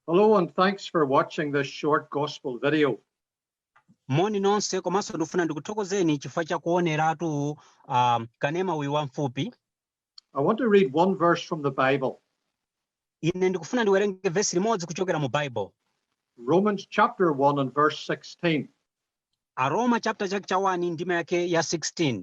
Hello, and thanks for watching this short gospel video. moni nonse komanso ndikufuna ndikuthokozeni chifukwa cha kuoneratu um, kanema uyu wamfupi I want to read one verse from the Bible, ine ndikufuna ndiwerenge vesi limodzi kuchokera mu bible Romans chapter 1 and verse 16. aroma chapter chake cha 1 ndima yake ya 16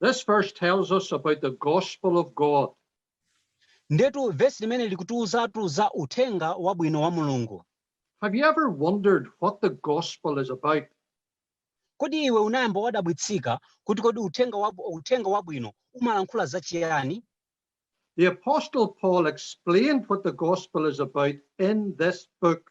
This verse tells us about the gospel of God. Ndetu vesi limeneli likutiuzatu za uthenga wabwino wa Mulungu. Have you ever wondered what the gospel is about? Kodi iwe unayamba wadabwitsika kuti kodi uthenga wabwino umalankhula za chiyani? The apostle Paul explained what the gospel is about in this book.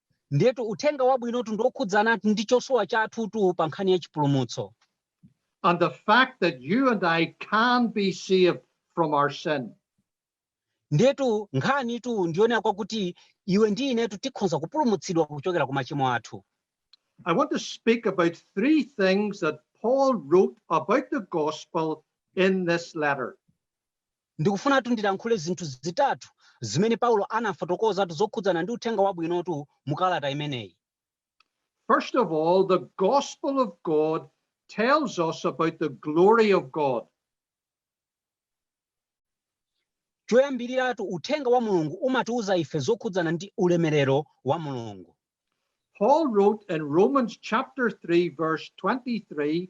Ndiyetu uthenga wabwinotu ndi wokhudzana ndi chosowa chathutu pa nkhani ya chipulumutso. and the fact that you and I can be saved from our sin. Ndiyetu nkhanitu ndiyonena kwakuti iwe ndi inetu tikhoza kupulumutsidwa kuchokera ku machimo athu. I want to speak about three things that Paul wrote about the gospel in this letter. Ndikufunatu ndilankhule zinthu zitatu zimene Paulo anafotokozatu zokhudzana ndi uthenga wabwinotu mu kalata imeneyi. First of all, the gospel of God tells us about the glory of God. Choyambiriratu uthenga wa Mulungu umatiuza ife zokhudzana ndi ulemerero wa Mulungu. Paul wrote in Romans chapter 3 verse 23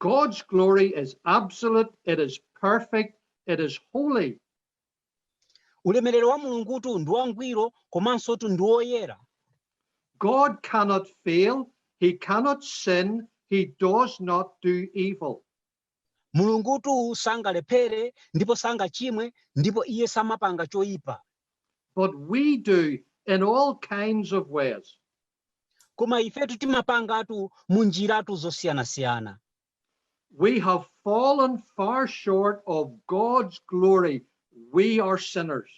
God's glory is absolute, it is perfect, it is holy. ulemerero wa mulungutu ndi wangwiro komansotu ndi woyera God cannot fail, he cannot sin, he does not do evil. mulungutu sangalephere ndipo sangachimwe ndipo iye samapanga choyipa But we do in all kinds of ways. Koma ifetu timapangatu munjiratu zosiyanasiyana. We have fallen far short of God's glory, we are sinners.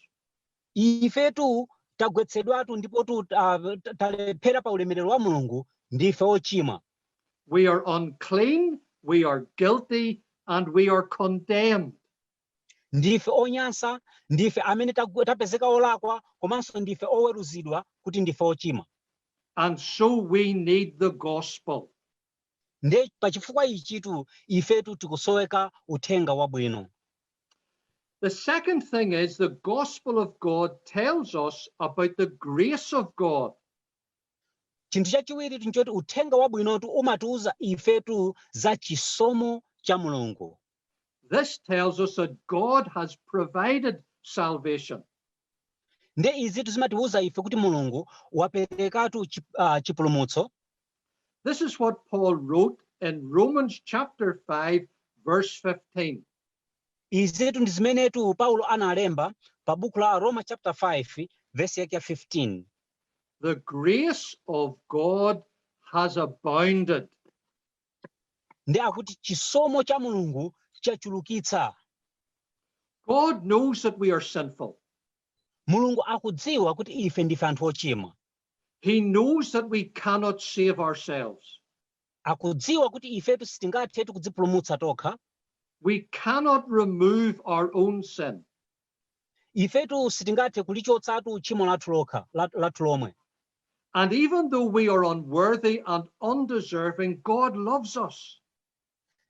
Ifetu tagwetsedwatu ndipotu uh, talephera pa ulemerero wa Mulungu ndife ochimwa. We are unclean, we are guilty and we are condemned. Ndife onyansa, ndife amene tagwe, tapezeka olakwa, komanso ndife oweruzidwa kuti ndife ochimwa. And so we need the gospel. Nde pachifukwa ichitu ifetu tikusoweka uthenga wabwino. The second thing is the gospel of God tells us about the grace of God. Chinthu chachiwiritu nchoti uthenga wabwinotu umatiuza ifetu za chisomo cha Mulungu. This tells us that God has provided salvation. nde izitu zimatiwuza ife kuti mulungu waperekatu chipulumutso This is what Paul wrote in Romans chapter 5, verse 15. izitu ndi zimenetu paulo analemba pa buku la aroma chapter 5 vesi yake 15 The grace of God has abounded. Ndiye akuti chisomo cha Mulungu chachulukitsa. God knows that we are sinful. Mulungu akudziwa kuti ife ndife anthu ochimwa. He knows that we cannot save ourselves. Akudziwa kuti ifetu sitingathe kudzipulumutsa tokha. We cannot remove our own sin. Ifetu sitingathe kulichotsatu tchimo lathu lokha, lathu lomwe. And even though we are unworthy and undeserving, God loves us.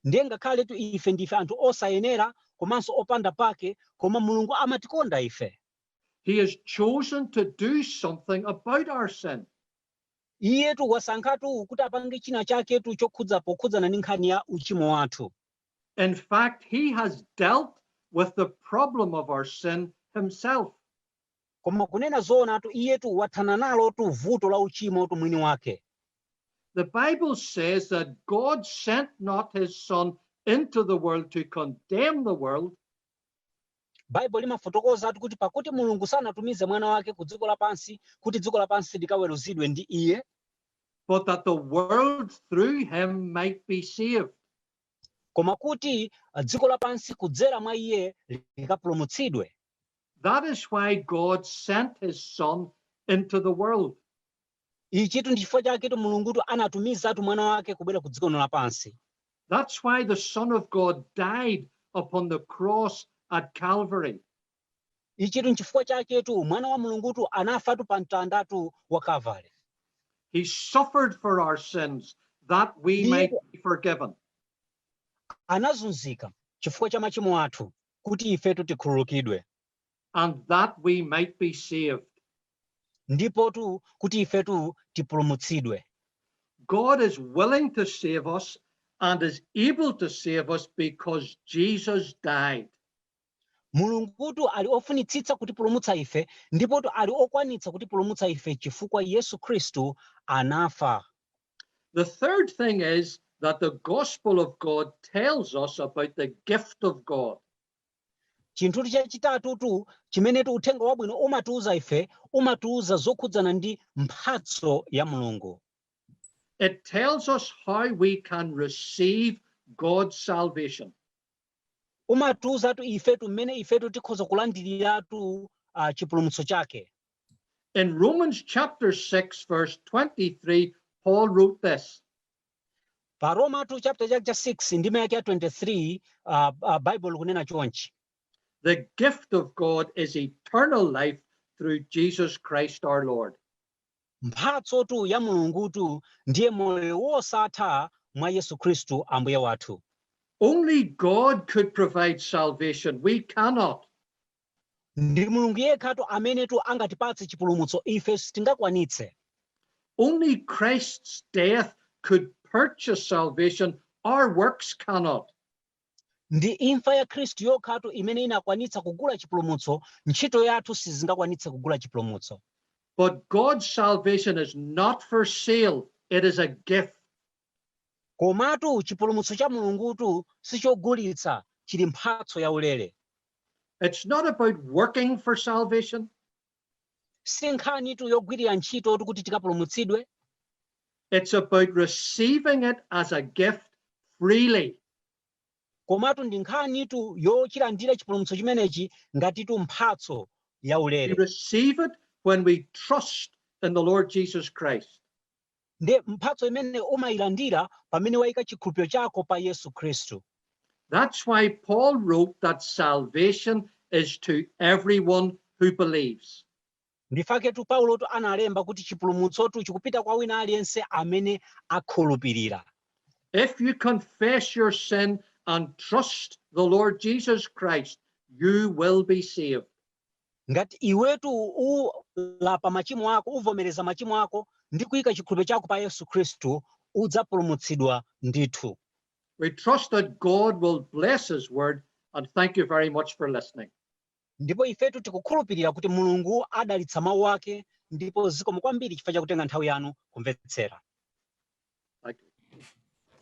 Ndiye ngakhaletu ife ndife anthu osayenera komanso opanda pake, koma Mulungu amatikonda ife. He has chosen to do something about our sin. Iyetu wasankhatu kuti apange china chaketu chokhudza pokhudzana ndi nkhani ya uchimo wathu. In fact, he has dealt with the problem of our sin himself. koma kunena zoonatu iyetu wathana nalotu vuto la uchimotu mwini wake The Bible says that God sent not his son into the world to condemn the world, baibulo limafotokozatu kuti pakuti mulungu sanatumize mwana wake ku dziko lapansi kuti dziko lapansi likaweruzidwe ndi iye but that the world through him might be saved. koma kuti dziko lapansi kudzera mwa iye likapulumutsidwe. That is why God sent his son into the world. Ichitu ndi chifukwa chaketu Mulungutu anatumizatu mwana wake kubwera ku dziko lapansi. That's why the son of God died upon the cross at Calvary. Ichitu n'chifukwa chaketu Mwana wa Mulungutu anafatu pa mtandatu wa Kalvare. He suffered for our sins that we might be forgiven. anazunzika chifukwa cha machimo athu kuti ifetu tikhululukidwe and that we might be saved. ndipotu kuti ifetu tipulumutsidwe. God is willing to save us and is able to save us because Jesus died. Mulungutu ali ofunitsitsa kutipulumutsa ife ndipotu ali okwanitsa kutipulumutsa ife chifukwa Yesu Khristu anafa. The third thing is that the gospel of God tells us about the gift of God. Chinthutu chachitatutu chimenetu uthenga wabwino umatiuza ife umatiuza zokhudzana ndi mphatso ya Mulungu. It tells us how we can receive God's salvation. umatiuzatu ifetu mmene ifetu tikhoza kulandiriratu uh, chipulumutso chake In Romans chapter 6 verse 23 Paul wrote this pa Romatu chapter chake cha 6 ndime yake ya 23 uh, uh, Baibulo likunena chonchi The gift of God is eternal life through Jesus Christ our Lord. Mphatsotu ya Mulungutu ndiye moyo wosatha mwa Yesu Khristu Ambuye wathu. Only God could provide salvation, we cannot. Ndi Mulungu yekhatu amenetu angatipatse chipulumutso, ife sitingakwanitse. Only Christ's death could purchase salvation, our works cannot. Ndi imfa ya Khristu yokhatu imene inakwanitsa kugula chipulumutso, ntchito yathu sizingakwanitse kugula chipulumutso. But God's salvation is not for sale, it is a gift. Komatu chipulumutso cha Mulungutu si chogulitsa, chili mphatso yaulere. It's not about working for salvation. si nkhanitu yogwirira ntchitotu kuti tikapulumutsidwe It's about receiving it as a gift freely. komatu ndi nkhanitu yochilandira chipulumutso chimenechi ngatitu mphatso yaulere We receive it when we trust in the Lord Jesus Christ. Ndi mphatso imene umailandira pamene waika chikhulupiriro chako pa Yesu Khristu. That's why Paul wrote that salvation is to everyone who believes. Ndifaketu Paulotu analemba kuti chipulumutsotu chikupita kwa wina aliyense amene akhulupirira. If you confess your sin and trust the Lord Jesus Christ, you will be saved. Ngati iwetu ulapa machimo ako, uvomereza machimo ako ndi kuika chikhulupiro chako pa Yesu Khristu, udzapulumutsidwa ndithu. We trust that God will bless his word and thank you very much for listening. Ndipo ifetu tikukhulupirira kuti Mulungu adalitsa mawu ake ndipo zikomo kwambiri chifukwa chakutenga nthawi yanu kumvetsera.